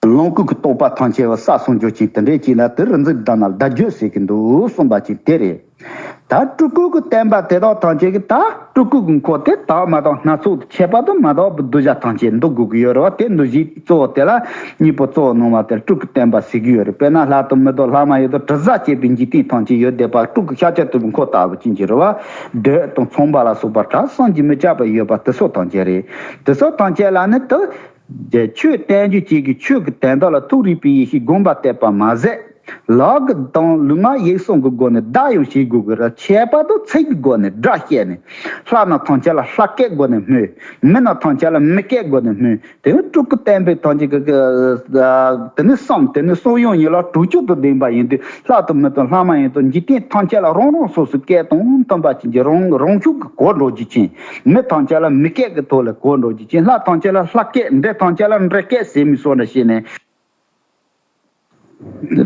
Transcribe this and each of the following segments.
ལོངས་སྐུ་གི་རྟོགས་པ་ཐང་ཆད་བ་ས་སོང་འགྱོ་ཅིང་དེ་འདྲས་ཅིག་ལ་དེ་རིག་འཛིན་བདག་ན་བདག་འགྱོད་ཟེར་གྱི་འདུག་གསུངས་པ་ཅིག་དེ་རེད། ད་སྤྲུལ་སྐུ་གི་བསྟན་པ་དེ་དག་ཐང་ཆད་གི་ད་སྤྲུལ་སྐུ་གི་འཁོར་དེ་དག་མ་དང་སྣ་ཚོགས་དུ་ཁྱད་པར་དུ་མ་དག་པའི་གདུལ་བྱ་ཐང་ཆད་འདུ་དགོས་ཀྱི་ཡོད་རེད་བ་དེ་འདུ་བྱེད་གཙོ་བོ་དེ་ལ་གཉིས་པོ་གཙོ་བོ་སྣང་བ་དེར་སྤྲུལ་སྐུ་བསྟན་པ་ཟེར་གྱི་ཡོད་རེད་དཔེར་ན་ལྷག་ཏུ་མི་དོ་ལྷག་མ་ཡོད་དོ་དྲི་ཟ་བྱེད་པའི་འཇིག་རྟེན་ཐང་ཆད་ཡོད་བསྡད་པ་སྤྲུལ་སྐུ་ཤཱཀྱ་ཐུབ་པའི་འཁོར་ལྟ་བུ་ཅན་གྱི་རེད་བ་འདོད་དང་མཚུངས་པ་ལ་སོགས་པ་གྲགས་སངས་ཀྱིས་མི་ཁྱབ་པ་ཡོད་པ་དེ་སོགས་ཐང་ཆད་རེད་དེ་སོགས་ཐང་ཆད་ལ་ནི་དེ་རྗེས་ཆོས་བསྟན་བཅོས་བཅས་ཀྱི་ཆོས་ཀྱི་དན་རྟགས་ལ་ཐུགས་རིག་པའི་ཡེ་ཤེས་བསྒོམ་པར་གཏད་པར་མ་ཟད། ལག་གི་གདངས་ལུགས་མ་ཡིག་སོགས་ཀྱི་སྒོ་ནས་བརྡ་ཡང་བྱེད་དགོས་ཀྱི་ར་ཁྱད་པར་དུ་ཚིག་གི་སྒོ་ནས་སྒྲ་བཤད་ནས། ལྷ་རྣམས་ཐམས་ཅད་ལ་ལྷ་སྐད་སྒོ་ནས་སྨོས། མི་རྣམས་ཐམས་ཅད་ལ་མི་སྐད་སྒོ་ནས་སྨོས། དེ་ནི་སྤྲུལ་སྐུ་བསྟན་པའི་དོན་གྱི། དེ་ནི་གསུམ་དེ་ནི་གསུང་ཡང་ཡིན་ལ་དྲུག་ཅུ་དང་ལྡན་པ་ཡིན་དུས་ལྷ་དང་མི་དང་ལྷ་མ་ཡིན་དང་འཇིག་རྟེན་ཐམས་ཅད་ལ་རང་རང་སོ་སོའི་སྐད་དང་མཐུན་པ་བྱིན་གྱིས་རང་རང་ཕྱོགས་ཀྱི་གོ་འགྲོ་རྒྱུ་ཅན། མི་ཐང་ཆད་ལ་མི་སྐད་ཀྱི་ཐོག་ལ་གོ་འགྲོ་རྒྱུ་ཅན་ལྷ་ཐང་ཆད་ལ་ལྷ་སྐད་འདྲེ་ཐང་ཆད་ལ་འདྲེ་སྐད་ཟེར་མི་སྲོག་འདྲ་བྱས་ནས།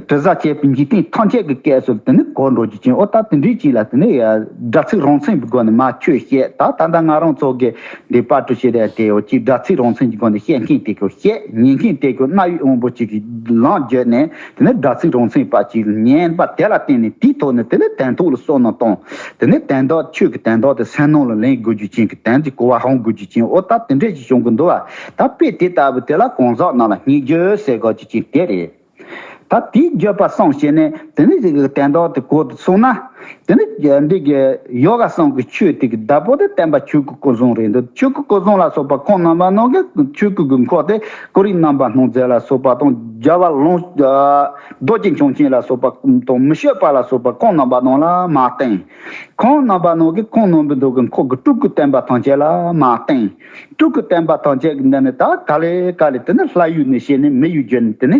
དྲི་ཟ་བྱས་པའི་འཇིག་རྟེན་ཐང་ཆད་ཀྱི་སྐད་སོགས་དེ་ནི་གོ་འགྲོ་རྒྱུ་ཅན་ཨོ་ད་དེ་འདྲའི་ཅིག་ལ་དེ་ནི་སྒྲ་ཚིག་རང་མཚན་གྱི་སྒོ་ནས་མ་ཁྱོད་བཤད་ད་ད་ལྟ་ང་རང་ཚོ་གི་འདི་པར་གྲུ་བྱས་དེ་ཡོད་ཅིག་སྒྲ་ཚིག་རང་མཚན་གྱི་སྒོ་ནས་བཤད་མཁན་དེ་ཁྱོད་བཤད་ཉན་མཁན་དེ་ཁྱོད་གནའ་ཡུལ་དབང་པོ་ཅིག་གིས་ལངས་བརྒྱུད་ནས་དེ་ནས་སྒྲ་ཚིག་རང་མཚན་པ་གཅིག་བསྙེན་པ་དེ་ལ་བརྟེན་ནས་དེའི་ཐོག་ནས་དེ་ལས་དན་ཐོག་ལ་སོགས་རྣམས་བཏང། དེ་ནས་དན་དག་ཆོས་ཀྱི་དན་དག་དེ་སེམས་སྣང་ལ་ལན་དགོས་རྒྱུ་ཅན་གྱི་དན་གྱི་གོ་བ་རང་དགོས་རྒྱུ་ཅན་ཨོ་ད་དེ་འདྲས་ཀྱི་བྱུང་གི་འདུག་བ་ད་དཔེ་དེ་ལྟ་བུ་དེ་ལ་གང་ཟག་རྣམས་ལ་སྙིགས་རྒྱུ་སེལ་དགོས་རྒྱུ་ཅན་དེ་རེད། ད་དེའི་རྒྱུད་པ་སངས་ཤེས་ནས་དེ་ནས་དན་དག་དེ་གོ་དུ་སོང་ན། དེ་ནི་འདི་གའི་ཡོ་ག་སྲང་གི་ཆོས་ཐིག་གི་བདག་པོ་དེ་བསྟན་པ་ཆོས་སྐུ་སྐུ་གསུང་རེད་འདུག་ཆོས་སྐུ་སྐུ་གསུང་ལ་སོགས་པ་ཁོང་རྣམ་པ་རྣམས་ཀྱི་ཆོས་སྐུ་དགོས་མཁོ་དེ་སྐུ་རིགས་རྣམ་པ་སྣང་མཛད་ལ་སོགས་པ་དང་སྦྱར་བ་ལོངས། རྡོ་རྗེ་འཆང་ཆེན་ལ་སོགས་པ་དང་མི་ཤོད་པ་ལ་སོགས་པ་ཁོང་རྣམ་པ་རྣམས་ལ་མ་བསྟན། ཁོང་རྣམ་པ་རྣམས་ཀྱི་ཁོང་རྣམ་པའི་མདོ་དགོས་མཁོ་གི་སྤྲུལ་སྐུ་བསྟན་པ་ཐམས་ཅད་ལ་མ་བསྟན། སྤྲུལ་སྐུ་བསྟན་པ་ཐམས་ཅད་ཀྱི་འདི་ནི་དག་ག་ལས་ག་ལས་དེ་ནི་ལྷ་ཡུལ་ནས་བཤད་ནས་མི་ཡུལ་བརྒྱུད་ནས་དེ་ནི།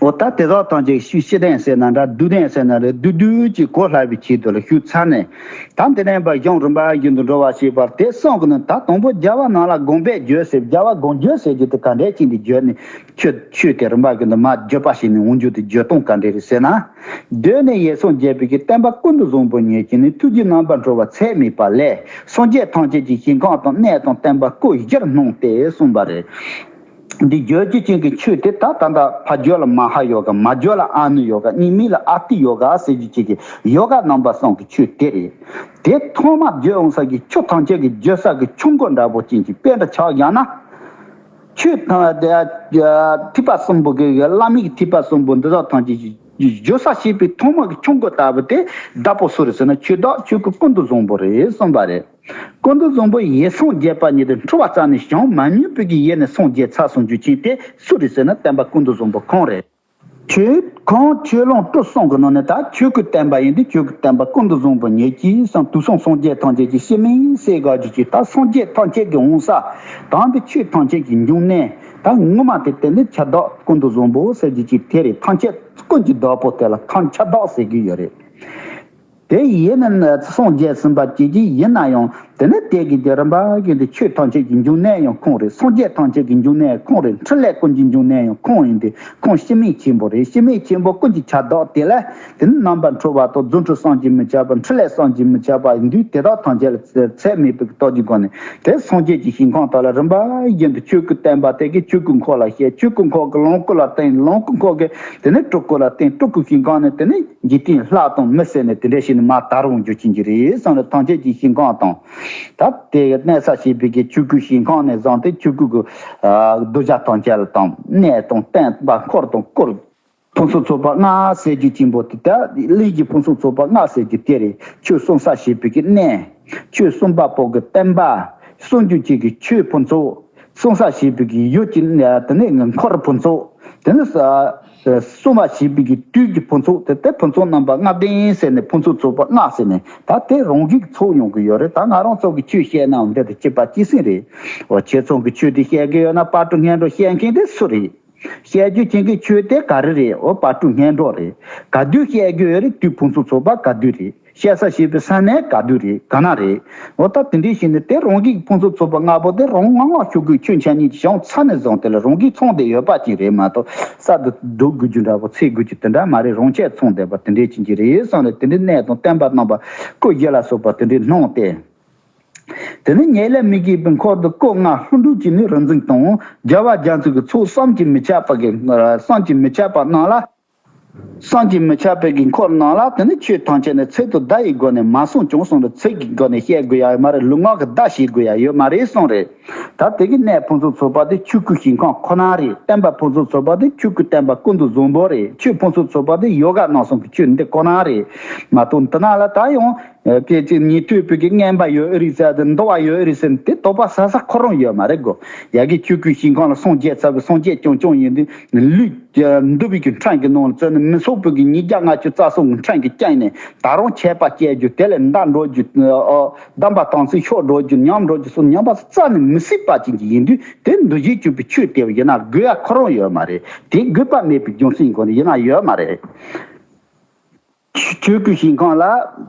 འོ་ད་དེ་དག་དང་ཅིག་ཤོས་ཤི་དན་ཟེར་ན་འདྲ་བདུད་དན་ཟེར་ན་རེད་བདུད་བདུད་ཅེས་གོ་སླ་བའི་ཆེད་དུ་ལ་ཞུགས་ཚར་ནས། ད་འདི་ནས་བ་གཞུང་རིམ་པ་བཞིན་དུ་འགྲོ་བ་ཞེས་པར་དེ་གསུང་གི་ནི་ད་དང་པོ་རྒྱལ་བ་ནང་ལ་དགོངས་པས་བརྗོད་ཟེར་རྒྱལ་བ་དགོངས་བརྗོད་ཟེར་རྒྱུ་དེ་ག་འདྲའི་ཆེད་འདི་བརྗོད་ནས་ཁྱོད་ཆོས་དེ་རིམ་པ་བཞིན་དུ་མ་བརྗོད་པ་ཞིག་ནི་འོང་རྒྱུ་དེ་བརྗོད་སྟངས་ག་འདྲས་རེད་ཟེར་ན། གདོད་ནས་ཡེ་སངས་རྒྱས་བོད་ཀྱི་བསྟན་པ་ཀུན་ཏུ་བཟང་པོ་ཉིད་ཀྱི་ནི་ཐུགས་ཀྱི་རྣམ་པར་འཕྲོ་བ་ཚད་མེད་པ་ལས་སངས་རྒྱས་ཐམས་ཅད་ཀྱི་ཞིང་གང་དང་གནས་དང་བསྟན་པ་སྐུ་བཞིར་སྣང་སྟེ་གསུངས་པ་རེད། འདི་བརྗོད་ཀྱི་ཅན་གྱི་ཆོས་དེ་ད་ད་འདྲ་ཕ་བརྗོད་ལ་མ་ཧ་ཡོ་ག་མ་བརྗོད་ལ་ཨ་ནུ་ཡོ་ག་གཉིས་མིན་ལ་ཨ་ཏི་ཡོ་ག་ཟེར་རྒྱུ་ཅན་གྱི་ཡོ་ག་རྣམ་པ་སོང་གི་ཆོས་དེ་རེད། དེ་ཐོག་མ་བརྗོད་འོང་ས་ཀྱི་ཆོས་ཐམས་ཅད་ཀྱི་བརྗོད་ས་ཀྱི་ཆོས་མགོ་འདྲ་པོ་ཅན་གྱི་དཔེ་འདྲ་ཆགས་ཡང་ན། ཆོས་ཐིགས་པ་གསུམ་པོ་གི་བླ་མེད་ཀྱི་ཐིགས་པ་གསུམ་པོ་འདི་དག་ཐམས་ཅད་ཀྱི་བརྗོད་ས་ཤེས་པའི་ཐོག་མ་གི་ཆོས་མགོ་ལྟ་བུ་དེ་འདྲ་པོ་སུ་རེད་ཟེར་ན་ཆོས་བདག་ཆོས་སྐུ་ཀུན་ཏུ་བཟང་པོ་རེད་གསུངས་པ་རེད། ཀོང་མདོ་རྫོང་པོ་ཡེ་སངས་རྒྱས་པ་ཉིད་དུ་འཁྲུ་བ་རྩ་ནས་བྱང་མ་སྙིང་པོ་གྱི་ཡས་ནས་སངས་རྒྱས་ཚར་སོང་རྒྱུ་རྐྱེན་དེ་སུ་རེད་ཟེར་ན་བསྟན་པ་ཀོང་མདོ་རྫོང་པོ་ཁོང་རེད། ཁྱོད་ཁོང་ཁྱོད་ལོངས་སྤྲོ་སོང་གི་ནང་ནས་ད་ཁྱོད་ཀྱི་བསྟན་པ་ཡིན་དུས་ཁྱོད་ཀྱི་བསྟན་པ་ཀོང་མདོ་རྫོང་པོ་ཉིད་ཀྱི་སངས་དུས་སངས་སངས་རྒྱས་ཐམས་ཅད་ཀྱི་གཤེད་མིང་གསལ་དགག་རྒྱུ་གཅིག་ད་སངས་རྒྱས་ཐམས་ཅད་ཀྱི་འོང་ས་དང་དེ་ཆོས་ཐམས་ཅད་ཀྱི་འབྱུང་གནས་ད་ངོ་མ་དེ་བསྟན་པའི་ཁྱད་རྡོག་ཀོང་མདོ་རྫོང་པོ་ཟེར་རྒྱུ་གཅིག་དེ་རེད་ཐང་ཁྱད་ཀོང་གྱི་རྡོག་པོ་དེ་ལ་ཐང་ཁྱད་རྡོག་ཟེར་གྱི་ཡོད་རེད། དེ་ཡིས་ནི་སངས་རྒྱས་གསུམ་པ་སྐྱེ་གྱི་ཡིན་ན་ཡང་དེ་ནི་དེ་གའི་རྒྱུ་རིམ་པ་ཡིན་ཏེ་ཆོས་ཐམས་ཅད་ཀྱི་འབྱུང་གནས་ཡང་ཁོང་རེད་སངས་རྒྱས་ཐམས་ཅད་ཀྱི་འབྱུང་གནས་ཡང་ཁོང་རེད་འཕྲིན་ལས་ཀུན་གྱི་འབྱུང་གནས་ཡང་ཁོང་ཡིན་ཏེ་ཁོང་ཤི་མེད་ཆེན་པོ་རེད་ཤི་མེད་ཆེན་པོ་ཀུན་གྱི་ཆ་བདག་དེ་ལས་དེ་ནི་རྣམ་པར་འཕྲུལ་བ་དང་རྫུ་འཕྲུལ་སངས་ཀྱིས་མི་ཁྱབ་པ་འཕྲིན་ལས་སངས་ཀྱིས་མི་ཁྱབ་པ་ཡིན་དུས་དེ་དག་ཐམས་ཅད་ལ་ཚད་མེད་པའི་རྟོགས་ཀྱི་སྒོ་ནས་དེ་སངས་རྒྱས་ཀྱི་ཞིང་གང་དག་ལ་རིམ་པ་བཞིན་དུ་ཆོས་སྐུ་བསྟན་པ་དེ་གའི་ཆོས་སྐུ་འཁོར་ལ་བཤད་ཆོས་སྐུ་འཁོར་གྱི་ལོངས་སྐུ་ལ་བསྟན་ལོངས་སྐུ་འཁོར་གྱི་དེ་ནི་སྤྲུལ་སྐུ་ལ་བསྟན་སྤྲུལ་སྐུ་ཞིང་གང་ནས་དེ་ནི། འཇིག་རྟེན་ལྷག་དང་མི་བསད་ནས་དེ་འདྲའི་ཤིག་ནི་མ་དར་བར་འགྱུར་གྱིན་གྱི་རེད་བསམ་ནས་ཐང་ཆད་ཀྱི་ཤིང་ཁང་དང། ད་ལྟའི་གནས་ས་ཞེས་པའི་གི་ཆུ་ཁུག་ཤིང་ཁང་ནས་བཟང་སྟེ་ཆུ་ཁུག་གི། རྡོ་བྱ་ཐང་ཆད་དང་ནས་དང་སྟན་པ་འཁོར་དང་བསྐོར། ཕུན་སུམ་ཚོགས་པ་ལྔ་ཟས་ཀྱི་སྐྱིན་པོ་དེ་དག་གླིང་གི་ཕུན་སུམ་ཚོགས་པ་ལྔ་ཟས་ཀྱི་དེ་རེད་ཆོས་གསུང་ས་ཞེས་པའི་གི་གནས། ཆོས་གསུང་པ་པོ་གི་སྟན་པ། གསུང་རྒྱུ་བཅས་ཀྱི་ཆོས་ཕུན་ཚོགས། གསུང་ས་ཞེས་པའི་གི་ཡུལ་གྱི་དེ་ནས་འཁོར་ཕུན་ཚོགས། དེ་ནས། སྲུང་བ་ཞེས་པའི་གི་དུས་ཀྱི་ཕུན་ཚོགས་དེ་དེ་ཕུན་ཚོགས་རྣམ་པ་ལྔ་ལྡན་ཟེར་ནས་ཕུན་ཚོགས་ཚོགས་པ་ལྔ་ཟེར་ནས་ད་དེ་རང་གིས་ཚོགས་ཡོང་གི་ཡོད་རེད་ད་ང་རང་ཚོགས་ཀྱི་ཆོས་བཤད་ནའང་འདི་དང་གཅིག་པ་གཅིག་ཟིན་རེད། འོ་ཁྱེད་ཚོགས་ཀྱི་ཆོས་དེ་བཤད་གི་ཡོད་ན་དཔའ་སྤྲུལ་ངན་འགྲོ་བཤད་མཁན་དེ་སུ་རེད། བཤད་རྒྱུ་བྱེད་མཁན་ཁྱོད་དེ་ག་རེ་རེད་འོ་དཔའ་སྤྲུལ་ངན་འགྲོ་རེད་ག་དུས་བཤད་རྒྱུ་ཡོད་རེད་དུས་ཕུན་ཚོགས་ཚོགས་པ་ག་དུས་རེད། བཤད་ས་ཞེས་པའི་ས་གནས་ག་དུས་རེད་ག་ན་རེད། འོ་ད་དེ་འདྲའི་ཞིག་ནས་དེ་རང་གིས་ཀྱི་ཕུན་ཚོགས་ཚོགས་པ་ལྔ་པོ་དེ་རང་ངག་ངག་ཤོད་དགོས་ཁྱོད་མཆན་གཉིས་ཀྱི་བྱང་ཚ་ནས་བཟུང་དེ་ལ་རང་གིས་ཚོང་བསྡད་ཡོད་པ་ཅིག་རེད་མ་གཏོགས་གསར་དུ་སྒྲོག་དགོས་རྒྱུ་འདྲ་བོ་ཚེ་དགོས་རྒྱུ་དེ་འདྲ་མ་རེད་རང་ཆས་ཚོང་བསྡད་པ་དེ་འདྲས་ཅིག་གྱི་རེད་བསམ་ནས་དེ་འདྲའི་གནས་དང་བསྟན་པ་རྣམ་པ་སྐུ་བཞི་ལ་སོགས་པ་དེ་འདྲས་སྣང་སྟེ། དེ་ནས་ངེད་ལས་མི་གིས་པའི་འཁོར་དུ་བསྐོ་བསྔགས་ལྷུན་གྲུབ་ཀྱིས་ནི་རིག་འཛིན་དང་རྒྱལ་བ་རྒྱ་མཚོས་ཀྱི་ཚོགས་བསམ་གྱིས་མི་ཁྱབ་པ་གིས་བསམ་གྱིས་མི་ཁྱབ་པ་གནང་ལ། སངས་རྒྱས་མི་ཆགས་པའི་དགོས་མཁོར་སྣང་ལ་དེ་ནི་ཆོས་ཐམས་ཅད་ནི་ཚིག་ཏུ་བརྡ་ཡི་སྒོ་ནས་མ་གསུངས་ཀྱང་གསུངས་པའི་ཚིག་གི་སྒོ་ནས་བཤད་དགོས་ཡ་ཡོད་མ་རེད་ལུས་ངག་གི་བརྡ་བྱེད་དགོས་ཡ་ཡོད་མ་རེད་གསུངས་རེད་ད་དེ་གི་གནད་ཕུན་ཚོགས་ཚོགས་པ་དེ་ཆོས་སྐུའི་ཞིང་ཁམས་ཁོ་ན་རེད་བསྟན་པ་ཕུན་ཚོགས་ཚོགས་པ་དེ་ཆོས་སྐུའི་བསྟན་པ་ཀུན་ཏུ་བཟང་པོ་རེད་ཆོས་ཕུན་ཚོགས་ཚོགས་པ་དེ་ཡོ་ག་གནང་གསུང་གི་ཆོས་འདི་ཁོ་ན་རེད་མ་གཏོགས་འདི་ན་ལ་ད་ཡང་སྐད་ཅིག་ཉིད་སྤྲུལ་སྤུལ་གྱི་རྔན་པ་ཡོད་རིགས་ཟེར་དང་འདུ་བ་ཡོད་རིགས་ཟེར་དེ་དོགས་པ་ཟ་ས་ཁོ་རང་ཡོད་མ་རེད་གོ། ཡ་གི་ཁྱོད་གུས་ཞིང་ཁང་ལ་སངས་རྒྱས་ཚ་བའི་སངས་རྒྱས་ཀྱང་ཀྱང་ཡིན་དུས་ལུས། འདུ་བའི་གི་འཕྲང་གི་ནང་ལ་བཙོན་ནས་མི་ཚོགས་པོད་གི་ཉིས་བརྒྱ་ལྔ་ཅུ་རྩ་གསུམ་གི་འཕྲང་གི་བསྐྱངས་ནས་ད་རང་ཆད་པ་བསྐྱལ་རྒྱུ་དེ་ལས་མདའ་འགྲོ་རྒྱུ། བསྡམས་པ་དང་ཚིག་ཤོག་འགྲོ་རྒྱུ་ཉམས་འགྲོ་རྒྱུ་སོགས་ཉམས་པ་ཚོ་རྩ་ནས་མི་སྲིད་པ་ཅན་གྱི་ཡིན་དུས་དེ་འདུ་བྱེད་གཅོད་པའི་ཆོས་དེ་བས་ཡིན་ན་དགོས་ཡ་ཁོ་རང་ཡོད་མ་རེད་དེ་དགོས་པ་མེད་པའི་རྒྱུ་མཚན་གང་ཡིན་ན་ཡོད་མ་རེད། ཆོས་སྐུའི་ཞིང་ཁམས་ལ།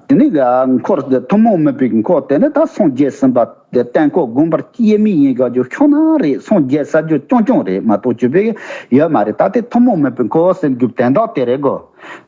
དེ་ནས་འཁོར་དེ་ཐུན་མོང་མོས་པའི་འཁོར་དེ་ནི་ད་སངས་རྒྱས་ཟིན་པ་དེ་བརྟན་འཁོར་དགོན་པར་དབྱེར་མེད་ཡིན་དགའ་རྒྱུ་ཁྱོད་རང་རེད་སངས་རྒྱས་ཟེར་རྒྱུ་ཀྱང་ཀྱང་རེད་མ་གཏོགས་བརྗོད་པའི་ཡོད་མ་རེད་ད་དེ་ཐུན་མོང་མོས་པའི་འཁོར་ཟེར་རྒྱུ་བདེན་མདོག་དེ་རེད་གོ།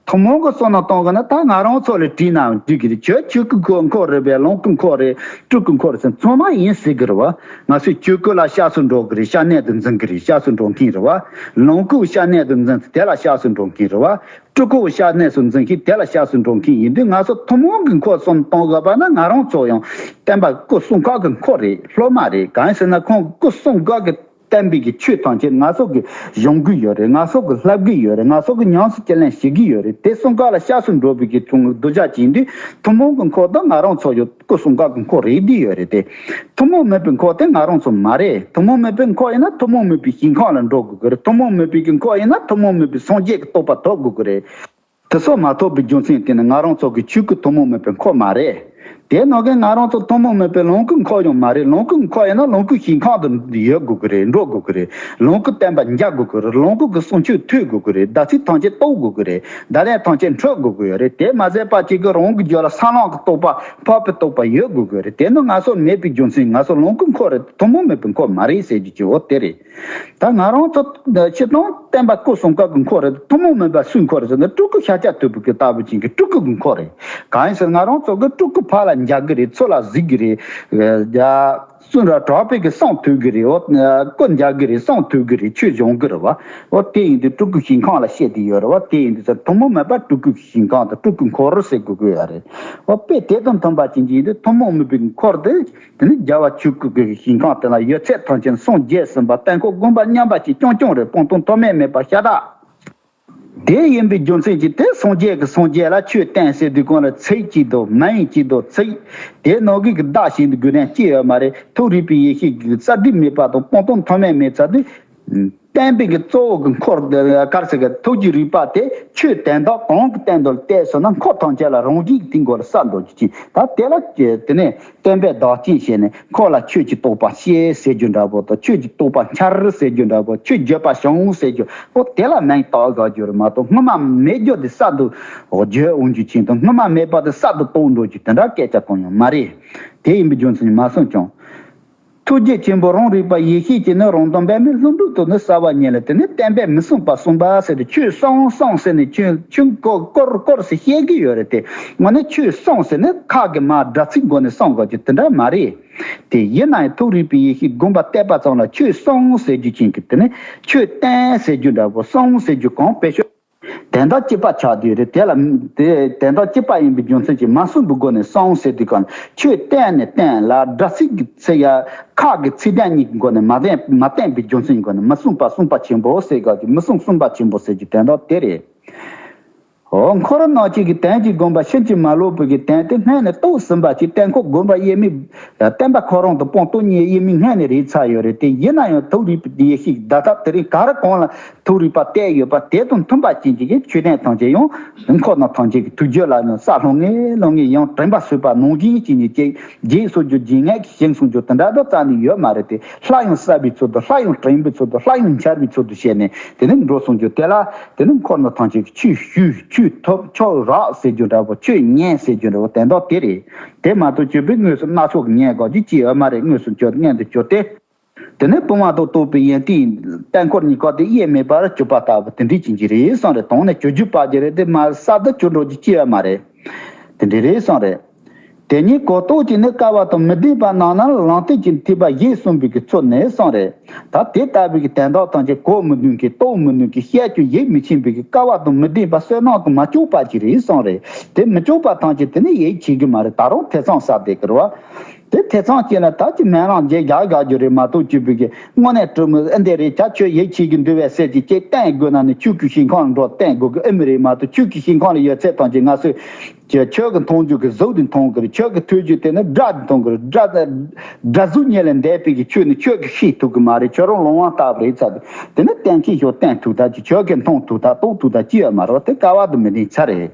ཐུན་མོང་གི་སོ་ནང་གཏོང་གི་ནི་ད་ང་རང་ཚོ་ལ་དྲིས་ནའང་འགྲིག་གི་རེད་ཁྱོད་ཆོས་སྐུའི་འཁོར་རེད་བས་ལོངས་སྐུའི་འཁོར་རེད་སྤྲུལ་སྐུའི་འཁོར་ཟེར་མཚོན་མ་ཡིན་ཟེར་གི་རེད་བ། ང་ཚོས་ཆོས་སྐུ་ལ་ཤ་ཟོས་འགྲོ་གི་རེད་ཤ་གནད་དུ་འཛིན་གི་རེད་ཤ་ཟོས་འགྲོ་མཁན་རེད་བ། ལོངས་སྐུའི་ཤ་གནད་དུ་འཛིན་ཚེ་དེ་ལ་ཤ་ཟོས་འགྲོ་མཁན་རེད་བ། སྤྲུལ་སྐུ་ཤར་གནས་སུ་འཛིན་གྱིན་དེ་ལ་ཤགས་སུ་འགྲོ་གིན་ཡིན་དུས་ང་སོགས་ཐུན་མོང་གི་འཁོར་གསུམ་སྟོང་བཟོ་པ་ན་ང་རང་ཚོ་ཡང་བསྟན་པ་སྐུ་གསུང་འགག་གི་འཁོར་རེད་སློབ་མ་རེད་གང་ཡིན་ཟེར་ན་ཁོང་སྐུ་གསུང་འགག་གི་གཏན་འབེབས་ཀྱི་ཆོས་ཐམས་ཅད་ང་སོགས་ཀྱིས་གཞུང་གི་ཡོད་རེད་ང་སོགས་ཀྱིས་ལྷབ་གི་ཡོད་རེད་ང་སོགས་ཀྱིས་ཉམས་སུ་ཁས་ལེན་བྱེད་ཀྱི་ཡོད་རེད་དེ་གསུང་འགག་ལ་ཤགས་སུ་འགྲོ་བའི་གི་ཚུལ་ངོ་བསྡུ་བྱ་བྱེད་ཀྱིན་དུས་ཐུན་མོང་གི་འཁོར་དང་ང་རང་ཚོ་ཡང། སྐུ་གསུང་སྐག་གི་འཁོར་རེད་འདི་ཡོད་རེད་དེ། ཐུན་མོང་མོས་པའི་འཁོར་དེ་ང་རང་ཚོ་མ་རེད་ཐུན་མོང་མོས་པའི་འཁོར་ཡིན་ན་ཐུན་མོང་མོས་པའི་ཞིང་ཁམས་ལ་འགྲོ་དགོས་ཀྱི་རེད་ཐུན་མོང་མོས་པའི་གི་འཁོར་ཡིན་ན་ཐུན་མོང་མོས་པའི་སངས་རྒྱས་ཀྱི་རྟོགས་པ་ཐོབ་དགོས་ཀྱི་རེད། དེ་སོགས་མ་ཐོབ་པའི་རྒྱུ་མཚན་དེ་ནི་ང་རང་ཚོ་གི་ཆོས་སྐུ་ཐུན་མོང་མོས་པའི་འཁོར་མ་རེད། དེ་ནང་གི་ང་རང་ཚོ་ཐུན་མོང་མོས་པའི་ལོངས་སྐུའི་འཁོར་ཡང་མ་རེད་ལོངས་སྐུའི་འཁོར་ཡིན་ན་ལོངས་སྐུའི་ཞིང་ཁམས་དུ་ཡོད་དགོས་ཀྱི་རེད་འགྲོ་དགོས་ཀྱི་རེད་ལོངས་སྐུ་བསྟན་པ་འཇགས་དགོས་ཀྱི་རེད་ལོངས་སྐུ་གི་གསུང་ཆོས་ཐོས་དགོས་ཀྱི་རེད་བདག་ཚིག་ཐམས་ཅད་རྟོགས་དགོས་ཀྱི་རེད། བདག་ལས་ཐོན་སྐྱེད་འཕྲོད་དགོས་ཀྱི་ཡོད་རེད་དེ་མ་ཟད་པ་གཅིག་གིས་རང་གི་རྒྱུད་ལ་སྲང་ལམ་གྱི་རྟོག་པ་འཕགས་པའི་རྟོག་པ་ཡོད་དགོས་ཀྱི་རེད་དེ་ནི་ང་སོགས་མེད་པའི་རྒྱུ་མཚན་ང་སོགས་ལོངས་སྐུ་འཁོར་རེད་དེ་ཐུན་མོང་མེད་པའི་འཁོར་མ་རེད་ཟེར་རྒྱུ་ཅི་འོ་དེ་རེད། ད་ང་རང་ཚོ་ཕྱི་དང་བསྟན་པ་སྐུ་གསུམ་ཀ་གི་འཁོར་རེད་དེ་ཐུན་མོང་མིན་པ་སུའི་འཁོར་རེད་ཟེར་ན་སྤྲུལ་སྐུ་ཤཱཀྱ་ཐུབ་པའི་སྐུ་ལྟ་བུ་ཅན་གྱི་སྤྲུལ་སྐུ་གི་འཁོར་རེད། གང་ཡིན་ཟེར་ན་ང་རང་ཚོ་གིས་སྤྲུལ་སྐུ་ཕར་ལ་འཇགས་ཀྱི་རེད་ཚུར་ལ་གཟིགས་ཀྱི་རེད། གསུང་ར་གྲགས་པས་ཀྱི་སངས་ཐོས་ཀྱི་རེད་ཨོ། སྐུ་མཇལ་གྱི་རེད་སངས་ཐོས་ཀྱི་རེད་ཆོས་འབྱུང་གི་རེད་བ། ཨོ་དེ་ཡིན་དུས་སྤྲུལ་སྐུ་ཞིང་ཁང་ལ་བཤད་དུས་ཡོད་རེད་བ་དེ་ཡིན་དུས་ཚ་ཐུ་མོ་མེད་པར་སྤྲུལ་སྐུ་གི་ཞིང་ཁང་དང་སྤྲུལ་སྐུ་འཁོར་ཟེར་དགོས་ཀྱི་ཡོད་རེད་བ། དཔེ་དེ་དང་མཐུན་པ་བྱིན་གྱིས་ཡིན་དུས་ཐུ་མོ་མོད་པའི་འཁོར་དེ། དེ་ནི་རྒྱལ་བ་ཆོས་སྐུ་གི་ཞིང་ཁང་དེ་ལ་ཡོད་ཚད་ཐང་ཆེན་སངས་རྒྱས་ཟིན་པ་དཔལ་འཁོར་དགོན་པ་མཉམ་པ་ཞིག་རྐྱང་རྐྱང་རེད་སྤང་ཐུང་མཐོ་དམན་མེད་པར་ཤ་སྟག། དེ་ཡིན་པའི་རྒྱུ་མཚན་གྱིས་དེ་སངས་རྒྱས་ཀྱི་སངས་རྒྱས་ལ་ཆོས་བསྟན་ཟེར་དུས་གང་ལ་ཚིག་གཅིག་དང་མ་ཡིན་གཅིག་དང་ཚིག་དེ་ནོར་གུག་གི་བརྡ་བཞིན་དུ་དགོས་དོན་ཅི་ཡོད་མ་རེད་ཐུགས་རིག་པའི་ཡེ་ཤེས་ཀྱི་རྩ་གྲིབ་མེད་པ་དང་སྤང་ལྟུང་མཐོ་དམན་མེད་ཚར་དུས། བསྟན་པའི་གཙོ་བོ་གི་འཁོར་དཀར་ཟེར་གི་ཐུགས་ཀྱི་རིག་པ་དེ་ཆོས་བསྟན་དང་གང་གི་བསྟན་དུ་བལྟས་སོང་ན་འཁོར་ཐམས་ཅད་ལ་རང་བཞིན་གྱིས་དེའི་མགོ་ལ་ས་འགྲོ་རྒྱུ་ཅི་ད་དེ་ལ་དེ་ནས་སྟོན་པས་བདག་བསྟེན་བྱས་ནས་ཁོ་ལ་ཁྱོད་ཀྱིས་རྟོགས་པ་ཤེས་ཟེར་རྒྱུ་འདྲ་བོ་དང་ཁྱོད་ཀྱིས་རྟོགས་པ་འཆར་ཟེར་རྒྱུ་འདྲ་བོ་ཁྱོད་འགྱོད་པ་བྱུང་ཟེར་རྒྱུ་བོ་དེ་ལ་མིང་བཏགས་དགའ་རྒྱུར་མ་གཏོགས་སྔོན་མ་མེད་རྒྱུ་དེ་གསར་དུ་བརྗོད་འོང་རྒྱུ་མཁྱེན་དང་སྔོན་མ་མེད་པ་དེ་གསར་དུ་རྟོགས་འགྲོ་རྒྱུ་དེ་འདྲ་སྐད་ཆ་གང་ཡང་མ་རེད། དེ་ཡིན་པའི་རྒྱུ་མཚན་མ་གསུངས་ཀྱང། ཐུགས་རྗེ་ཆེན་པོ་རང་རིག་པ་ཡེ་ཤེས་ཀྱིས་ནི་རང་དོན་པདྨའི་ལྷུན་གྲུབ་ཏུ་ནི་གསལ་བར་བསྙེན་ལ་དེ་ནས་བསྟན་པས་མི་གསུངས་པ་གསུངས་པ་ཟེར་ཏེ་ཆོས་གསུངས་གསུངས་ཟེར་ནས་ཆོས་ཆུང་སྐོར་སྐོར་ཞིག་བཤད་ཀྱི་ཡོད་རེད་དེ་སྔོན་ནས་ཆོས་གསུངས་ཟེར་ནས་ཁག་གི་མར་སྒྲ་ཚིག་འགོ་ནས་གསུངས་དགོས་རྒྱུ་དེ་འདྲ་མ་རེད་དེ། ཡིན་ནའང་ཐུགས་རིག་པའི་ཡེ་ཤེས་བསྒོམ་པ་གཏད་པ་ཙམ་ལ་ཆོས་གསུངས་ཟེར་རྒྱུ་མཁྱེན་གྱི་དེ་ནས་ཆོས་བསྟན་ཟེར་རྒྱུ་འདྲ་པོ་གསུངས་ཟེར་རྒྱུ་གང་དཔེ་ཤོད། དན་རྟགས་སྐྱེད་པ་ཆགས་དུས་རེད་དེ་ལ། དེ་དན་རྟགས་སྐྱེད་པ་ཡིན་པའི་རྒྱུ་མཚན་གྱིས་མ་གསུངས་པའི་སྒོ་ནས་གསང་ཟེར་དུས་གང་ཁྱོད་བསྟན་ནས་བསྟན་ལ་སྒྲ་ཚིག་གི་ཚེ་ཡ། ཁག་གི་ཚིག་དན་གཉིས་ཀྱི་སྒོ་ནས་མ་བསྟན་མ་བསྟན་པའི་རྒྱུ་མཚན་གྱི་སྒོ་ནས་མ་གསུངས་པ་གསུངས་པ་ཆེན་པོ་ཟེར་སྐབས་ཀྱི་མི་གསུངས་གསུངས་པ་ཆེན་པོ་ཟེར་གྱི་དན་རྟགས་དེ་རེད། ཧོ། འཁོར་རོ་ནག་གཅིག་གི་དན་གྱི་དགོངས་པ་ཕྱིན་ཅི་མ་ལོག་པོ་གི་དན་དེ་སྔས་ནས་ཏོག་ཟིན་པ་གྱི་གཏན་འཁོག་དགོན་པ་དབྱེར་མེད། བསྟན་པ་ཁོ་རང་དང་སྤོང་སྟོ་གཉིས་དབྱེར་མེད་སྔས་ནས་རིག་ཚར་ཡོད་རེད་དེ་ཡིན་ན་ཡང་ཐུགས་རིག་པའི་ཡེ་ཤེས་ཀྱི་བརྡ་རྟགས་དེ་རིང་ག་རེ་གང་ལ་ཐུགས་རིག་པ་གཏད་ཡོད་པ་དེ་དང་མཐུན་པ་ཅན་གྱི་མཆོད་རྟེན་ཐམས་ཅད་ཡང་དུས་འཁོར་ན་ཐམས་ཅད་ཀྱི་ཐུགས་རྗེ་ལ་ཡང་ས་ལྷུང་ངེ་ལྷུང་ངེ་ཡང་དྲན་པ་བཟོད་པ་ནོངས་བཞིན་བྱས་ནས་ཅེག་རྗེས་སོགས་རྒྱུ་རྗེས་ངག་གིས་བཞེངས་གསུངས་རྒྱུ་དེ་འདྲ་དག་རྩ་ནས་ཡོད་མ་རེད་དེ་སླར་ཡང་གསར་བའི་ཚུལ་དུ་སླར་ཡང་དྲན་པའི་ཚུལ་དུ་སླར་ཡང་འཆར་བའི་ཚུལ་དུ་བྱས་ནས་དེ་ནས་འགྲོ་གསུངས་རྒྱུ་དེ་ལ་དེ་ནི་འཁོར་ན་ཐམས་ཅད་ཀྱི་ཆུ་ཤུ་ཆུ་ཐུབ་མཆོག་རགས་ཟེར་རྒྱུ་འདྲ་བོ་ཆོས་ཉན་ཟེར་རྒྱུ་འདྲ་བོ་དེ་དག་དེ་རེད་དེ་མ་གཏོགས་བཅོས་པའི་ངོས་སུ་སྣ་ཚོགས་ངན་གོག་ཅིག་ཅིག་ཨེ་མ་རེད་དངོས་སུ་མཆོད་བརྙན་དུ་གྱུར་ཏེ། དེ་ནི་སྤོང་བ་དང་སྟོང་པའི་ཡན་ཏན་ཡིན། དཔལ་འཁོར་གཉིས་ཀ་དེ་དབྱེར་མེད་པར་སྤྱོད་པ་ལྟ་བུ་དེ་འདྲའི་བྱིན་གྱིས་རེ་ཟུང་རེ་དང་ནི་བྱོས་རྒྱུ་བར་གྱི་རེ་དེ་མ་ས་དུ་བྱོས་འགྲོ་རྒྱུ་སྐྱེ་བ་མ་རེ། དེ་འདྲའི་རེ་ཟུང་རེ། དེ་གཉིས་གོ་རྟོགས་ཀྱིས་ནི་དཀའ་བ་དང་མི་ལྡན་པ་སྣང་ན་ལང་སྟེ་ཀྱི་ཐེག་པ་བཞི་གསུམ་པའི་གི་ཚོགས་ནི་གསུང་རེ། ད་དེ་ལྟ་བུའི་གི་དན་རྟགས་ཐམས་ཅད་གོ་མི་ནུས་ཀྱི་རྟོགས་མི་ནུས་ཀྱི་བཤད་རྒྱུ་ཡིད་མི་ཆེན་པའི་གི་དཀའ་བ་དང་མི་ལྡན་པ་བསོད་ནམས་དང་མ་བཅོས་བར་གྱི་རེ་ཟུང་རེ། དེ་མི་བཅོས་པ་ཐམས་ཅད་དེ་ནི་ཡིད་ཆེས་རྒྱུ་མ་རེ་ད་རུང་ཐེ་ཚོམ་ཟ་བདེ་གི་རུ་བ། དེ་དེ་ཚང་བྱས་ན་ད་ཅི་མན་རང་རྗེས་རྒྱག་རྒྱག་རྒྱུ་རེད་མ་གཏོགས་གཅིག་བུ་གིས་དངོས་གནས་སྤྲོ་མོ་ཨེ་འདེ་རེད་བྱ་ཁྱོད་ཡིད་ཆེས་ཀྱི་འདུལ་བའི་སྲས་ཀྱི་སྐྱེས་བསྟན་དགོས་ན་ནི་ཕྱུག་གི་ཞིང་ཁང་ལ་འགྲོ་བསྟན་དགོས་གི་ཨེ་མི་རེད་མ་གཏོགས་ཕྱུག་གི་ཞིང་ཁང་ལ་ཡོད་ཚད་ཐང་ཅིག་ང་སུ་ཁྱོད་ཀྱི་མཐོང་རྒྱུ་གི་གཟུགས་དེ་མཐོང་གི་རེད་ཁྱོད་ཀྱི་ཐོས་རྒྱུ་དེ་ནི་སྒྲ་དེ་མཐོང་གི་རེད་སྒྲ་སྒྲ་གཟུགས་བརྙན་ལས་འདས་པའི་གི་ཆོས་ནི་ཁྱོད་ཀྱིས་ཤེས་ཐུབ་གི་མ་རེད་ཁྱོད་རང་ལོང་བ་ལྟ་བུ་རེད་ཚ་དེ་ནི་བསྟན་མཁན་ཞིག་བསྟན་ཐུག་ད་ཅི་ཁྱོད་ཀྱིས་མཐོང་ཐུག་ད་རྟོགས་ཐུག་ད་ཅི་ཡོད་མ་རོགས་དེ་ཀ་བ་དུ་མི་ལྡན་ཚ་རེད།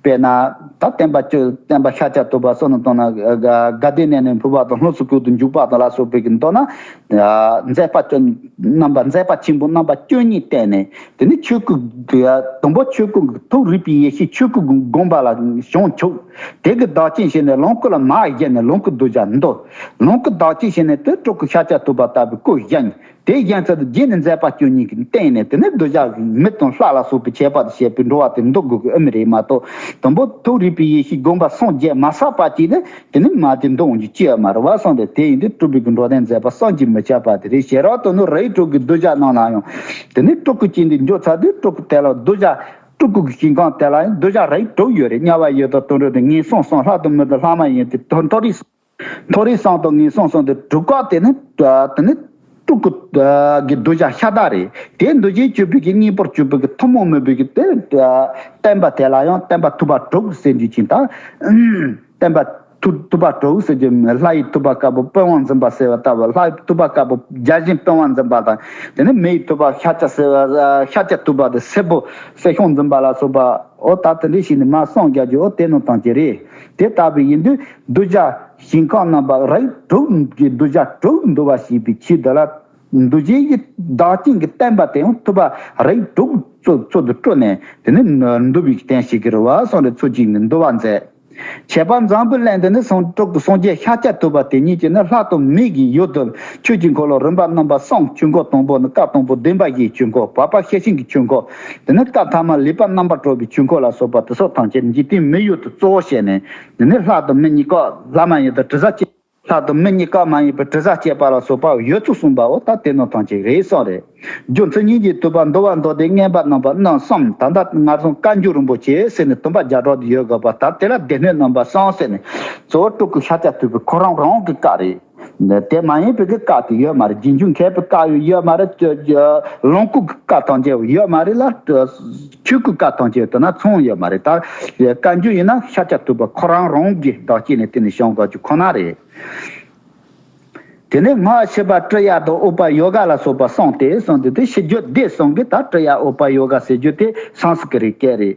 དཔེར་ན། ད་བསྟན་པ་སྤྱོད་བསྟན་པ་ཤཱཀྱ་ཐུབ་པ་སོགས་ནི་མདོར་ན། དགའ་བདེའི་གནས་ནས་འཕོས་པ་དང་ལྷུང་སུ་ཀུན་ཏུ་འཇུག་པ་དང་ལ་སོགས་པའི་མདོར་ན། མཛད་པ་སྤྱོད་རྣམ་པ་མཛད་པ་ཆེན་པོ་རྣམ་པ་བཅུ་གཉིས་བསྟན་ནས། དེ་ནས་ཆོས་སྐུ། དང་པོ་ཆོས་སྐུ། ཐུགས་རིག་པའི་ཡེ་ཤེས་ཆོས་སྐུ་བསྒོམ་པ་ལ་བྱང་ཆུབ། དེ་གི་བདག་བྱིན་བྱས་ནས་ལོངས་སྐུ་ལ་མ་བཞེད་ནས་ལོངས་སྐུ་གདུལ་བྱ་འདོད། ལོངས་སྐུ་བདག་བྱིན་བྱས་ནས་དུད་སྤྲུགས་ཤཱཀྱ་ཐུབ་པ་ལྟ་བུའི་སྐུ་བཞེངས། དེའི་རྒྱན་ཚད་དུ་རྒྱན་ནི་མཛད་པ་སྐྱོན་གཉིས་ཀྱི་སྟེང་ནས་དེ་ནི་འདོད་ཆགས་མེ་དང་ལྷ་ལ་སོགས་པའི་ཁྱད་པར་དུ་བཤད་པས་འགྲོ་བ་དེར་འདོགས་དགོས་ཀྱི་ཨེ་མི་རེད་མ་གཏོགས། དང་པོ་ཐུགས་རིག་པའི་ཡེ་ཤེས་བསྒོམ་པ་སངས་རྒྱས་མ་བསགས་པ་གཅིག་ནི་དེ་ནི་མ་དེ་འདོང་རྒྱུ་ཅི་ཡང་མ་རེད་བ་སངས་པས་དེ་ཡིན་དུས་སྤྲུལ་པའི་གི་འགྲོ་དོན་མཛད་པ་སངས་ཀྱིས་མི་ཁྱབ་པ་དེ་རེད་ཞེས་རང་དོན་ནོ་རེའི་དྲུག་གི་གདུལ་བྱ་རྣམས་ལ་ཡང། དེ་ནི་སྤྲུལ་སྐུ་སྐྱེ་འདི་འཇོག་ཚར་དུས་སྤྲུལ་སྐུ་དེ་ལ་གདུལ་བྱ། སྤྲུལ་སྐུ་གི་ཞིང་ཁམས་དེ་ལ་ཡང་གདུལ་བྱ་རེའི་དྲུག་ཡོད་རེད་དམྱལ་བ་ཡོད་དོ་དོན་གྲུབ་དོ་ངན་སོང་སོང་ལྷ་དང་མི་དང་ལྷ་མ་ཡིན་ཏེ་དོན་རྟོགས་རིགས་སོང། མཐོ་རིས་སྲང་དང་ངན་སོང་སྲང་དུ་དྲུག་བཀག་དེ་ནི་དཀྲུག་གི་གདུལ་བྱ་ཤ་སྟག་རེད་དེ་འདུལ་བྱའི་སྤྱོད་ཕུད་ཀྱི་གཉིས་པོར་སྤྱོད་ཕུད་ཀྱི་ཐུན་མོང་མོས་བུད་ཀྱི་དེ་བསྟན་པ་དེ་ལ་ཡང་བསྟན་པ་ཐུབ་པ་དྲུག་ཟེར་རྒྱུ་ཅི་དང། བསྟན་པ་ཐུབ་པ་དྲུག་ཟེར་རྒྱུ་མིན་ལྷ་ཡི་ཐུབ་པ་དཀར་པོ་དཔོན་དབང་འཛིན་པ་ཟེར་བ་ལྟ་བུ་ལྷ་ཐུབ་པ་དཀར་པོ་བརྒྱ་བྱིན་དཔོན་དབང་འཛིན་པ་དང་དེ་ནས་མི་ཡི་ཐུབ་པ་ཤ་སྐྱ་ཟེར་བ་ཤ་སྐྱ་ཐུབ་པ་དེ་སེར་པོ་སྲས་ཤོང་འཛིན་པ་ལ་སོགས་པའོ་ད་དེ་འདྲས་ཞིག་ནི་མ་སངས་རྒྱ་རྒྱུའོ་དེ་ནོར་དང་བྱེད་རེད་དེ་ལྟ་བུ་ཡིན་དུས། གདུལ་བྱ་ཞིང་བཀང་རྣམ་པ་རིགས་དྲུག་གི་གདུལ་བྱ་དྲུག་འདུལ་བ་བྱས་པའི་ཕྱིར་དུ་ལ། འདུལ་བྱེད་ཀྱི་བདག་རྐྱེན་གྱི་བསྟན་པ་དེ་ཡང་ཐུབ་པ་རིགས་དྲུག་གཙོ་དུ་སྤྲོ་ནས་དེ་ནི་འདུལ་བའི་རྟེན་ཞིག་གིར་བ་སངས་རྒྱས་ཚུལ་གཅིག་ནི་འདུལ་བར་མཛད། བྱས་པ་འཛམ་བུའི་གླིང་འདི་ནི་སངས་དྲུག་སངས་རྒྱས་ཤཱ་ཀྱ་ཐུབ་པ་དེ་ཉིད་ཀྱིས་ནི་ལྷ་དང་མི་གི་ཡུལ་དུ་ཆོས་ཀྱི་འཁོར་ལོ་རིམ་པ་རྣམ་པར་གསང་ཆོས་འཁོར་དང་པོ་ནི་སྐབས་དང་པོ་བདུན་པ་བཞིའི་ཆོས་འཁོར་བར་པ་ཤེར་ཕྱིན་གྱི་ཆོས་འཁོར་དེ་ནི་སྐབས་ཐ་མ་ལེགས་པར་རྣམ་པར་སྤྲོ་བའི་ཆོས་འཁོར་ལ་སོགས་པ་དེ་སོགས་ཐམས་ཅད་འཇིག་རྟེན་མི་ཡུལ་དུ་གཙོ་བོར་བྱས་ནས། འདི་ནི་ལྷག་ཏུ་མི་གཉིས་ཀ་ལྷ་མ་ཡིན་པའི་དྲི་ཟ་སྐྱེད། ལྷག་ཏུ་མི་གཉིས་ཀ་མ་ཡིན་པའི་དྲི་ཟ་སྐྱེད་པ་ལ་སོགས་པ་ཡོད་ཚུལ་གསུངས་པའོ་ད་དེ་ནོར་ཐང་ཅིག་རེད་བསམ། རེད་རྒྱུ་མཚན་སྙིང་རྗེའི་དུད་པ་འདོར་བ་འདོར་ཏེ་རྔན་པ་གནང་བ་གནང་བསམ་ད་ལྟ་ང་ཚོ་བཀའ་འགྱུར་རིན་པོ་ཆེའི་གསེབ་ནས་དུམ་པ་བརྒྱ་སྒྲོག་ཏུ་ཡོད་དགོས་པ་ལྟར་དེ་ལ་སྡེ་སྣོད་རྣམ་པ་གསང་ཟེར་ནས་གཙོ་བོ་སྤྲུལ་སྐུ་ཤཱཀྱ་ཐུབ་པའི་ཁོ་རང་རང་གི་བཀའ་རེད། དེ་མ་ཡིན་པའི་གི་བཀག་གི་ཡོད་མ་རེད་རྒྱུན་འཁྱོངས་མཁས་པའི་བཀག་ཡོད་ཡོད་མ་རེད་ལོངས་སྐུ་གི་བཀག་གཏང་རྒྱ་ཡོད་མ་རེད་ལ་ཆོས་སྐུ་བཀག་གཏང་རྒྱ་དེ་ན་མཚུངས་ཡོད་མ་རེད་ད་བཀའ་འགྱུར་ཡིན་ན་ཤ་ཆ་ཐུབ་པ་ཁོ་རང་རང་གི་བདག་སྐྱེ་ནས་དེ་ནས་བྱང་དགའ་རྒྱུ་ཁོ་ན་རེད། དེ་ནས་སྔགས་ཕྱི་པ་ཀྲི་ཡ་དང་ཨུ་པ་ཡོ་ག་ལ་སོགས་པ་གསུངས་ཏེ་གསུངས་དེ་དེ་ཕྱི་རྒྱུད་བདེ་གསུངས་གི་ད་ཀྲི་ཡ་ཨུ་པ་ཡོ་ག་ཟེར་རྒྱུ་དེ་སངས་སྐྲི་རིག་སྐད་རེད།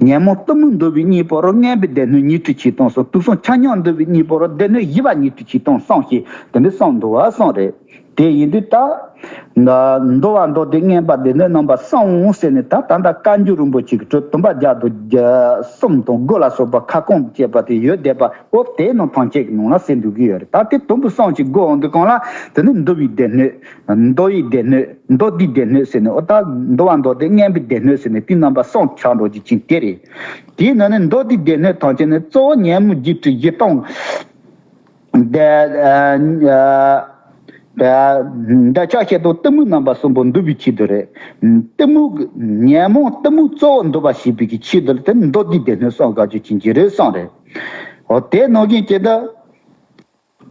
ཉོན་མོངས་གཏུམ་མོས་འདུལ་བའི་གཉིས་པོར་རྔན་པའི་སྡེ་སྣོད་ཉིད་དུ་གྱིས་སྟོང་གསུངས་དུག་གསུམ་ཆ་མཉམ་འདུལ་བའི་གཉིས་པོར་སྡེ་སྣོད་བཞི་པ་ཉིད་དུ་གྱིས་སྟོང་གསུངས་ཞེས་དེ་འདྲའི་གསུངས་འདུག་བ་གསུངས་རེད་དེ་ཡིན་དུས་ད། འདུལ་བ་མདོ་སྡེ་རྔན་པ་སྡེ་སྣོད་རྣམ་པར་གསུངས་ཟེར་ནས་ད་ད་ལྟ་བཀའ་འགྱུར་རིན་པོ་ཆེ་གི་དྲུག་བདུན་པ་བརྒྱ་དུ་གསུམ་དང་དགུ་ལ་སོགས་པ་ཁ་སྐོང་བཅས་པ་དེ་ཡོད་བསྡད་པ་འོ་དེའི་ནང་ཐང་ཆད་ཀྱི་ནང་ལ་གསལ་འདུག་གི་ཡོད་རེད་ད་དེ་དུམ་བུ་གསུངས་ཞེས་དགོས་འོང་གི་གང་ལ་དེ་ནི་འདུལ་བའི་སྡེ་སྣོད། མདོ་ཡི་སྡེ་སྣོད་མདོ་སྡེའི་སྡེ་སྣོད་ཟེར་ནས་ཨོ་ད། མདོ་བ་མདོ་སྡེ་གཉན་པོའི་སྡེ་སྣོད་ཟེར་ནས་དུས་རྣམ་པ་སོགས་ཆགས་འགྲོ་རྒྱུ་ཅན་དེ་རེད། དེའི་ནང་ནས་མདོ་སྡེའི་སྡེ་སྣོད་ཐམས་ཅད་ནི་གཙོ་བོ་ཉན་མོ་བརྒྱད་ཁྲི་བཞི་སྟོང། འདོད་ཆགས་བཤད་དོ་གཏི་མུག་རྣམ་པ་གསུམ་པོ་འདུལ་བའི་ཕྱིར་དུ་རེད། གཏི་མུག། ཉན་མོ་གཏི་མུག་གཙོ་བོར་འདུལ་བ་ཞེས་པའི་ཀྱི་ཕྱིར་དུ་དེ་ནི་མདོ་སྡེའི་སྡེ་སྣོད་གསུམ་དགག་རྒྱུ་ཅན་གྱི་རོལ་སོང་རེད། ཨོ་དེའི་ནང་རྐྱེན་ཅི་འདུག།